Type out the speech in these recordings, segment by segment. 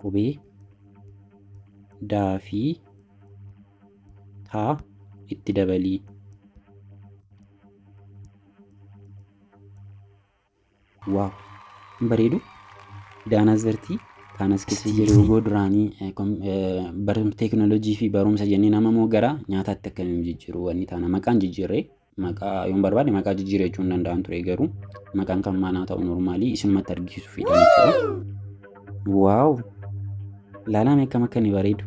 qubee D fi T itti dabalii. Waaw! Hin bareedu? Daanas bartii taanas keessa jiru yeroo duraanii eh, kom- eh, bar- teekinooloojii fi barumsa jennee nama moo gara nyaataatti akkamiin jijjiiru wanni taana maqaan jijjiirree Maqaa yoon barbaade maqaa jijjiirachuu hin danda'an ture garuu maqaan kan maanaa ta'u normaalii isimmatti argisiisu fiidhaan jechuudha. Waaw! Ilaalaan akkam akka inni bareedu.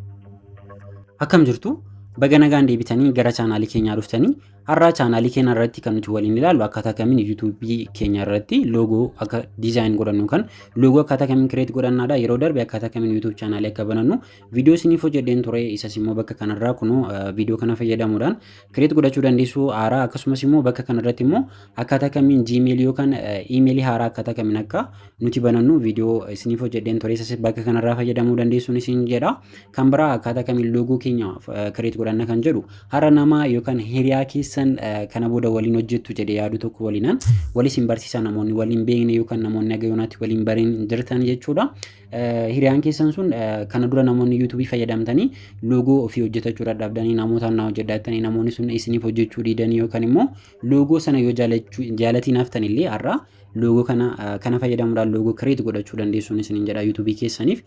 Akkam jirtu? Baga nagaan deebitanii gara chaanaalii keenyaa dhuftanii har'aa chaanaalii keenya irratti kan nuti waliin ilaallu akkaataa kamiin yuutuubii keenya irratti loogoo akka diizaayin godhannu kan loogoo akkaataa kamiin kireet godhannaadha yeroo darbe akkaataa kamiin yuutuub chaanaalii akka banannu Viidiyoo isiniif hojjedheen ture isas immoo bakka kanarraa kunoo viidiyoo kana fayyadamuudhaan kireet godhachuu dandeessu haaraa akkasumas immoo bakka kanarratti immoo akkaataa kamiin gmail yookaan iimeelii haaraa akkaataa kamiin akka nuti banannu viidiyoo isiniif hojjedheen ture isas bakka kanarraa fayyadamuu dandeessuun isin jedha kan biraa akkaataa kamiin loogoo keenya kireet godhanna kan jedhu har'a nama yookaan hiriyaa keessan kana booda waliin hojjettu jedhee yaadu tokko waliinan waliin isin barsiisa namoonni waliin beekne yookaan namoonni agayoonaatti waliin bariin jirtan jechuudha. Hiriyaan keessan sun kana dura namoonni yuutuubii fayyadamtanii loogoo ofii hojjetachuu dadhabdanii namootaan naa hojjedha jettanii namoonni sun isiniif hojjechuu diidanii yookaan immoo loogoo sana yoo jaalatiin haftan illee har'a loogoo kana kana fayyadamuudhaan loogoo kireet godhachuu dandeessuun isiniin jedha yuutuubii keessaniif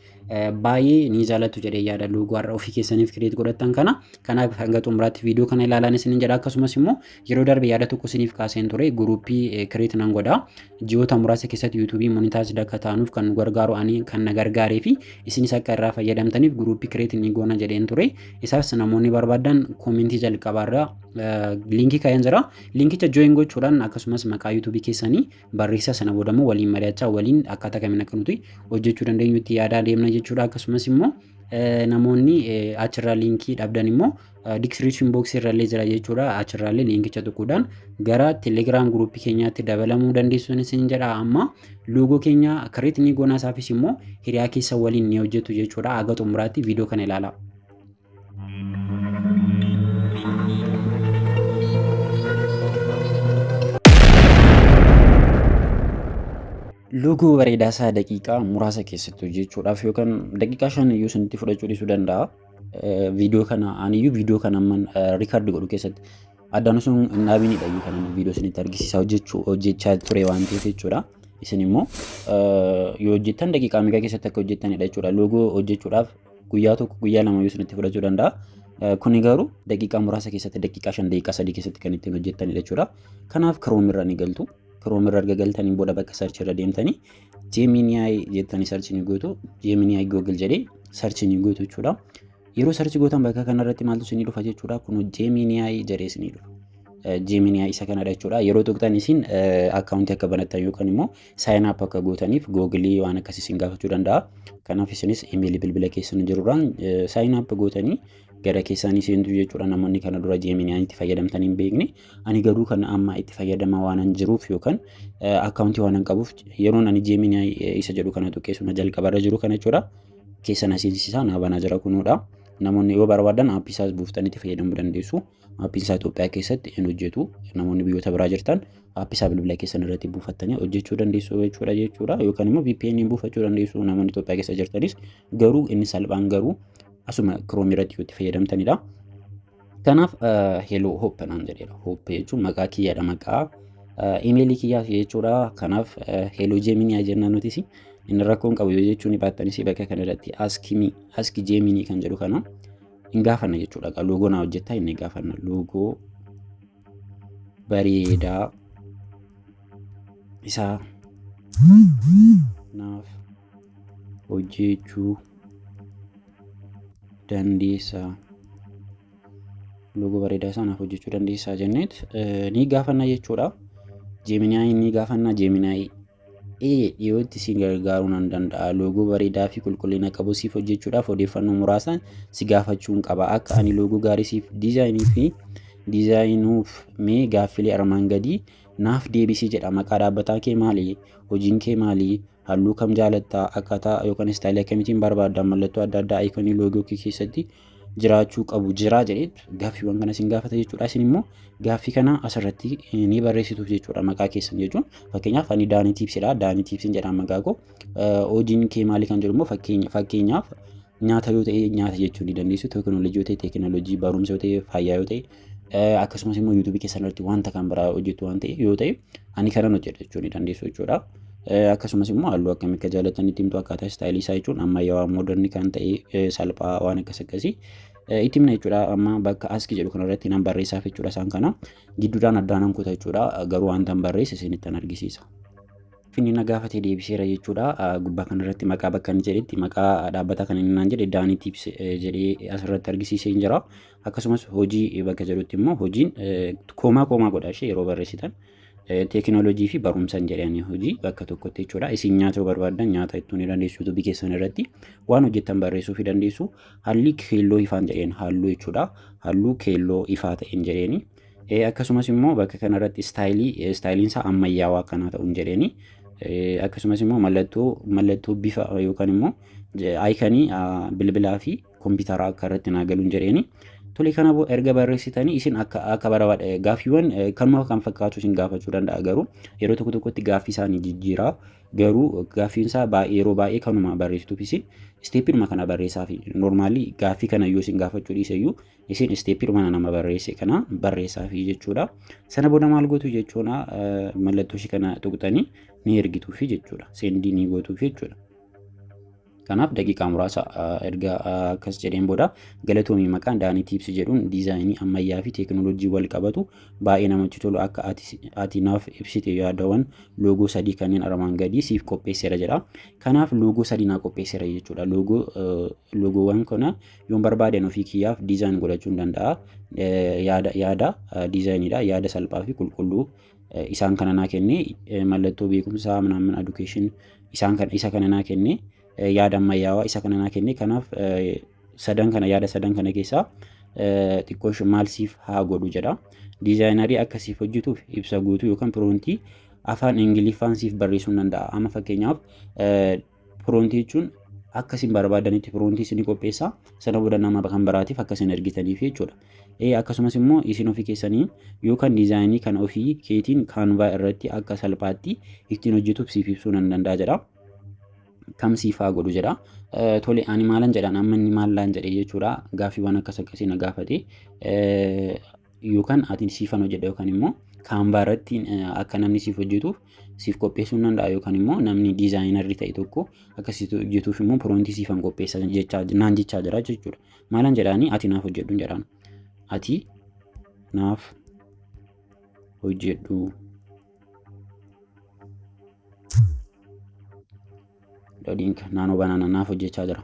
baay'ee ni jaalattu jedhee yaada loogoo har'a ofii keessaniif kireet godhattan kana kanaaf hanga xumuraatti viidiyoo kana ilaalaan isiniin jedha akkasumas immoo yeroo darbe yaada tokko isiniif kaaseen ture guruuppii kireet nan godha Ji'oota muraasa keessatti yuutuubii monitaayiz akka taanuuf kan nu gargaaru ani kan na gargaaree fi isinis akka irraa fayyadamtaniif guruuppii kireet ni goona jedheen ture. Isaas namoonni barbaadan koomentii jalqabaarra liinkii kaa'een jira. Liinkicha jooyin gochuudhaan akkasumas maqaa yuutuubii keessanii barreessaa sana booda immoo waliin mari'achaa waliin akkaataa kamiin akka nuti hojjechuu dandeenyutti yaadaa deemna jechuudha. Akkasumas immoo namoonni achirraa liinkii dhabdan immoo Diskiripshin booksii irrallee jira jechuudha. Achirraallee liinkicha tuquudhaan gara telegiraam guruupii keenyaatti dabalamuu dandeessuun isin jedha amma loogoo keenya kireet ni goonaa isaafis immoo hiriyaa keessa waliin ni hojjetu jechuudha. Haga xumuraatti viidiyoo kana ilaalaa. Loogoo bareedaa isaa daqiiqaa muraasa keessatti hojjechuudhaaf yookaan daqiiqaa shan iyyuu isinitti fudhachuu dhiisuu danda'a. viidiyoo kana aniyyuu viidiyoo kana amman riikaardi godhu keessatti addaan osoo hin dhaabinidha iyyuu kana viidiyoo isinitti argisiisaa hojjechuu hojjechaa ture waan ta'eef jechuudha. Isin immoo yoo hojjettan daqiiqaa meeqa keessatti akka hojjettanidha jechuudha. Loogoo hojjechuudhaaf guyyaa tokko guyyaa lama yoo isinitti fudhachuu danda'a. Kuni garuu daqiiqaa muraasa keessatti daqiiqaa shan daqiiqaa sadii keessatti kan ittiin hojjettanidha jechuudha. Kanaaf kiroomirra ni galtu. Chrome irra erga galtaniin booda bakka search irra deemtanii Gemini jettanii search ni gootu. Gemini Google jedhee search ni gootu jechuudha. Yeroo search gootan bakka kanarratti maaltu isin dhufa jechuudha. Kun Gemini jedhee isin dhufa. Gemini isa kanadha jechuudha. Yeroo tuqxan isin akkaawuntii akka banattan yookaan immoo sign up akka gootaniif Google waan akkasii isin gaafachuu danda'a. Kanaaf isinis imeelii bilbila keessan jirurraan sign up gootanii gara keessanii seentu jechuudha. Namoonni kana dura Gemini itti fayyadamtanii hin beekne. Ani garuu kan amma itti fayyadamaa waanan jiruuf yookaan akkaawuntii waanan qabuuf yeroon ani Gemini isa jedhu kana tuqee suna jalqabarra jiru kana jechuudha. Keessa na seensisaa naa banaa jira kunuudha. Namoonni yoo barbaadan aappii isaas buuftanii itti fayyadamuu dandeessu. Aappiin isaa Itoophiyaa keessatti hin hojjetu. Namoonni biyyoota biraa jirtan aappii isaa bilbila keessan irratti buufattanii hojjechuu dandeessu jechuudha jechuudha. Yookaan immoo VPN buufachuu dandeessu namoonni Itoophiyaa keessa jirtanis garuu inni salphaan garuu asuma Chrome irratti yoo itti fayyadamtanidha. Kanaaf heloo hoppe naan jedheera. Hoppe jechuun maqaa kiyyaadha maqaa imeelii kiyyaaf jechuudha. Kanaaf heloo jeeminii jenna nutis inni rakkoon qabu yoo jechuun baattanis bakka kana irratti askimii aski jeeminii kan jedhu kana hin gaafanna jechuudha. Egaa loogoo naa hojjettaa inni gaafanna loogoo bareedaa isaa naaf hojjeechuu dandeessaa loogoo bareedaa isaa naaf hojjechuu dandeessaa jenneet ni gaafanna jechuudha. Jeeminaayi ni gaafanna jeeminaayi ee dhiyootti si gargaaruu nan danda'a loogoo bareedaa fi qulqullina qabu siif hojjechuudhaaf odeeffannoo muraasaan si gaafachuun qaba akka ani loogoo gaarii siif diizaayinii fi diizaayinuuf mee gaaffilee armaan gadii naaf deebisii jedha maqaa dhaabbataa kee maali hojiin kee maali Halluu kam jaalatta? Akkaataa yookaan istaayilii akkamiitiin barbaadda? Mallattoo adda addaa ayikonii loogoo kee keessatti jiraachuu qabu jiraa jedheetu gaaffiiwwan kana isin gaafata jechuudha. Isin immoo gaaffii kana asirratti ni barreessituuf jechuudha maqaa keessan jechuun. Fakkeenyaaf ani Daanii Tiipsidha. Daanii Tiipsiin jedha maqaa koo. Hojiin kee maali kan jedhu immoo fakkeenyaaf nyaata yoo ta'e nyaata jechuu ni dandeessu. Teekinooloojii yoo ta'e teekinooloojii, barumsa yoo ta'e fayyaa yoo ta'e akkasumas immoo yuutuubii keessan irratti wanta kan biraa hojjetu waan ta'e yoo ta'e ani kanan hojjedha jechuu ni dandeessu jechuudha. Akkasumas immoo halluu akkamii akka jaalatan itti himtu akkaataa istaayilii isaa jechuun ammayyaawaa moodarni kan ta'e salphaa waan akkas akkasii itti himna jechuudha. Amma bakka aski jedhu kanarratti nan barreessaaf jechuudha isaan kana gidduudhaan addaan nan kuta jechuudha garuu wanta hin barreesse isinittan argisiisa. Finni na gaafate deebiseera jechuudha. Gubbaa kanarratti maqaa bakka inni jedhetti maqaa dhaabbataa kan inni naan jedhe daanii tiips jedhee asirratti argisiisee hin jira. akkasumas hojii bakka jedhutti immoo hojiin koomaa koomaa godha ishee yeroo barreessitan teekinooloojii fi barumsan jedhanii hojii bakka tokkotti jechuudha. Isin nyaata yoo barbaaddan nyaata ittuu ni dandeessu yuutuubii keessan irratti waan hojjettan barreessuu fi dandeessu haalli keelloo ifaan jedheen halluu jechuudha. Halluu keelloo ifaa ta'een jedheeni. Akkasumas immoo bakka kanarratti istaayilii istaayiliin isaa ammayyaawaa akkanaa ta'uun jedheeni. Akkasumas immoo mallattoo mallattoo bifa yookaan immoo ayikanii bilbilaa fi kompiitaraa akka irratti naa galuun jedheeni. Tole kana boo erga barreessitanii isin akka akka barbaada gaaffiiwwan kanuma kan fakkaatu isin gaafachuu danda'a garuu yeroo tokko tokkotti gaaffii isaanii jijjiiraa garuu gaaffiin isaa baay'ee yeroo baay'ee kanuma barreessituuf isin isteeppiidhuma kana barreessaa fi noormaalii gaaffii kana yoo isin gaafachuu dhiise iyyuu isin isteeppiidhuma nama barreesse kana barreessaa fi jechuudha. Sana booda maal gootu jechuun mallattoo ishee kana tuqxanii ni ergituufi jechuudha. Seendii ni gootuufi jechuudha. Kanaaf daqiiqaa muraasa erga akkas jedheen booda galatoomii maqaan Daanii Tiipsi jedhuun diizaayinii ammayyaa fi teekinooloojii wal qabatu baay'ee namatti tolu akka ati naaf ibsite yaadawwan loogoo sadii kanneen armaan gadii siif qopheesseera jedha. Kanaaf loogoo sadii naa qopheesseera jechuudha. Loogoo loogoowwan kana yoon barbaadan ofii kiyyaaf diizaayin godhachuu danda'a. Yaada yaada diizaayiniidha. Yaada salphaa fi qulqulluu isaan kana naa kenne mallattoo beekumsaa minaamin education isaan kana isa kana naa kenne yaada ammayyaawaa isa kana naa kenne kanaaf sadan kana yaada sadan kana keessaa xiqqoo maal siif haa godhu jedha diizaayinarii akka siif hojjetuuf ibsa guutuu yookaan piroontii afaan ingiliffaan siif barreessuu danda'a amma fakkeenyaaf piroontii jechuun akka isin barbaadanitti piroontii isin qopheessa sana booda nama kan biraatiif akka isin ergitaniif jechuudha. Akkasumas immoo isin ofii keessanii yookaan diizaayinii kan ofii keetiin kaanvaa irratti akka salphaatti ittiin hojjetuuf siif ibsuu nan danda'a jedha. kam siif haa godhu jedha. Tole ani maalan jedhan amma inni maallaan jedhee jechuudha gaaffiiwwan akkas akkasii na gaafate. yookaan ati siifan hojjedha yookaan immoo kaanvaa irratti akka namni siif hojjetuuf siif qopheessuu danda'a yookaan immoo namni diizaayinarri ta'e tokko akka siif hojjetuuf immoo piroontii siifan qopheessa jechaa naan jechaa jira jechuudha. Maalan jedhaanii ati naaf hojjedhu hin jedhaan. Ati naaf hojjedhu. Dodiinka naannoo banaana naaf hojjechaa jira.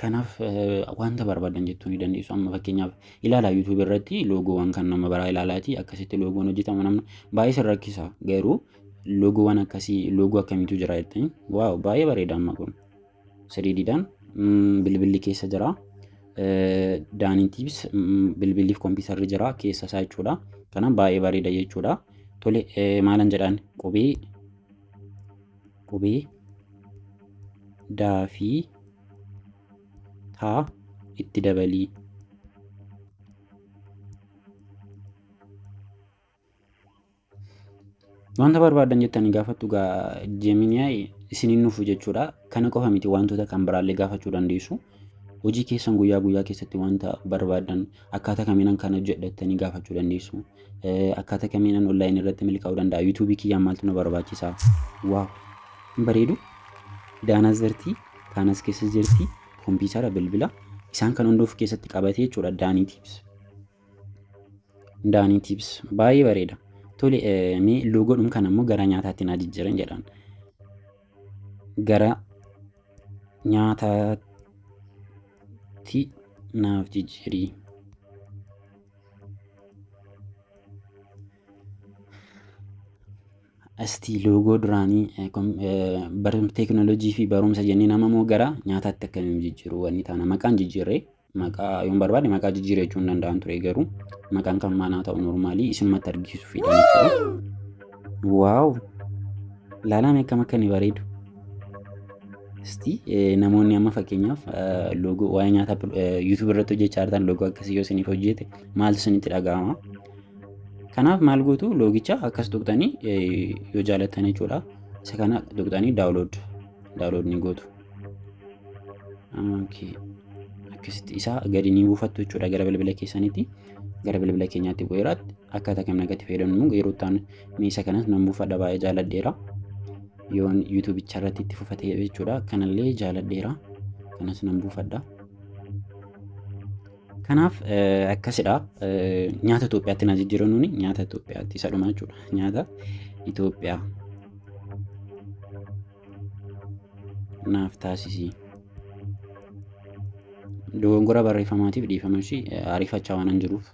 Kanaaf wanta barbaadan jechuu ni dandeessu. Amma fakkeenyaaf ilaalaa YouTube irratti loogoowwan kan nama biraa ilaalaati akkasitti loogoon hojjetama namni baay'ee sin rakkisa garuu loogoowwan akkasii loogoo akkamiitu jira jettanii waaw baay'ee bareeda amma kun siriidiidhaan bilbilli keessa jira. Daaniitiifis bilbiliif kompiitarri jira keessa isaa jechuudha. Kanaaf baay'ee bareeda jechuudha. Tole maalan jedhaan qubee qubee da fi taa itti dabalii. Wanta barbaadan jettanii gaafattu gaa Gemini isin hin nufu jechuudha. Kana qofa miti wantoota kan biraallee gaafachuu dandeessu. Hojii keessan guyyaa guyyaa keessatti wanta barbaaddan akkaataa kamiinan kan hojjedha jettanii gaafachuu dandeessu. Akkaataa kamiinan online irratti milkaa'uu danda'a. YouTube kiyyaan maaltu na barbaachisa. Waaw! Hin bareedu? Daanas jirti, kaanas keessa jirti, kompiitara, bilbila. Isaan kan hunda of keessatti qabatee jechuudha Daanii Tips. Daanii Tips baay'ee bareeda. Tole mee loogoodhum kan ammoo gara nyaataatti naa jijjiiran jedhaan. gara nyaataatti naaf jijjiiri. Asti loogoo duraanii teekinooloojii fi barumsa jennee nama moo gara nyaataatti akkamiin jijjiiruu wanni taana maqaan jijjiirree maqaa yoon barbaade maqaa jijjiiree jechuun danda'an ture garuu maqaan kan maanaa ta'u normaalii isinumatti argisiisu fedhan jechuudha. Waaw! Ilaalaan akkam akka inni bareedu. Isti namoonni amma fakkeenyaaf loogoo waa'ee nyaata YouTube irratti hojjechaa jirtan loogoo akkasii yoo isiniif hojjete maaltu isinitti dhaga'ama? Kanaaf maal gootu loogicha akkas tuqxanii yoo jaalattan jechuudha. Isa kana tuqxanii daawulood daawulood ni gootu. Okay. Akkasitti isaa gadi ni buufattu jechuudha gara bilbila keessaniitti. Gara bilbila keenyaatti bu'eera. Akkaataa kam nagatti fayyadamnu yeroo ta'an meesha kanas nan buufadha baay'ee jaaladheera. Yoon yuutuubicha irratti itti fufate jechuudha. Kanallee jaaladheera. Kanas nan buufadha. Kanaaf eh, akkasidha. Eh, Nyaata Itoophiyaatti na jijjiiranuun nyaata Itoophiyaatti isa dhuma jechuudha. Nyaata Itoophiyaa. naaf taasisi. Dogongora barreeffamaatiif dhiifama ishii ariifachaa waanan jiruuf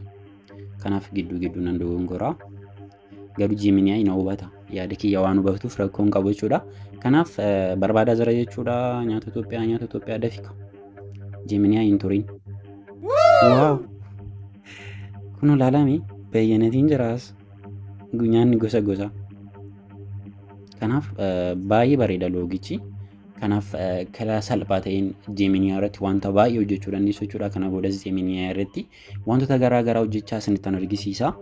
kanaaf gidduu gidduu nan dogongora. Garuu jiiminiyaa'ii na hubata. Yaada kiyya waan hubatuuf rakkoon qabu jechuudha. Kanaaf barbaadaa jira jechuudha nyaata Itoophiyaa nyaata Itoophiyaa dafika. Jiiminiyaa'ii hin turin. Waaw! Kun ilaalame bayyanatiin jiraas. Nyaanni gosa gosa. Kanaaf baay'ee bareeda loogichi. Kanaaf karaa salphaa ta'een Gemini irratti wanta baay'ee hojjechuu dandeessu jechuudha. Kana boodas Gemini irratti wantoota garaa garaa hojjechaa isinittan argisiisa.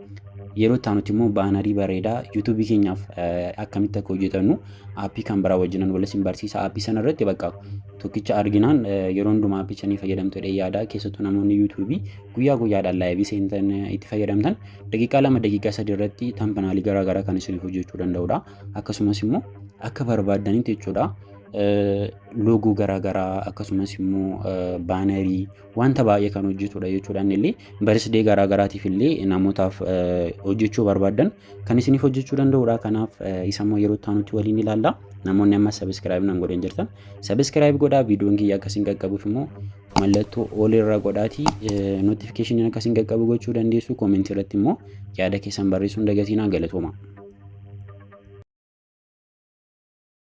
Yeroo itti aanutti immoo baanarii bareedaa YouTube keenyaaf akkamitti akka hojjetannu aappii kan biraa wajjinan wal isin barsiisa. Aappii sana irratti bakka tokkicha arginaan yeroo hundumaa aappii sanii fayyadamtu jedhee yaada. Keessattuu namoonni YouTube guyyaa guyyaadhaan laayivii seentan itti fayyadamtan daqiiqaa lama daqiiqaa sadii irratti tampanaalii garaa garaa kan isiniif hojjechuu danda'udha. Akkasumas immoo akka barbaaddanitti jechuudha loogoo garaa garaa akkasumas immoo baanarii wanta baay'ee kan hojjetudha jechuudha inni illee barisdee garaa garaatiif illee namootaaf hojjechuu barbaaddan kan isiniif hojjechuu danda'udha. Kanaaf isa immoo yeroo itti aanutti waliin ilaalla. Namoonni amma sabiskiraayib nan godhan jirtan sabiskiraayib godhaa viidiyoon kiyya akkasiin qaqqabuuf immoo mallattoo ol irra godhaati notifikashiniin akka isin qaqqabu gochuu dandeessu koomentii irratti immoo yaada keessan barreessuun dagatinaa galatooma.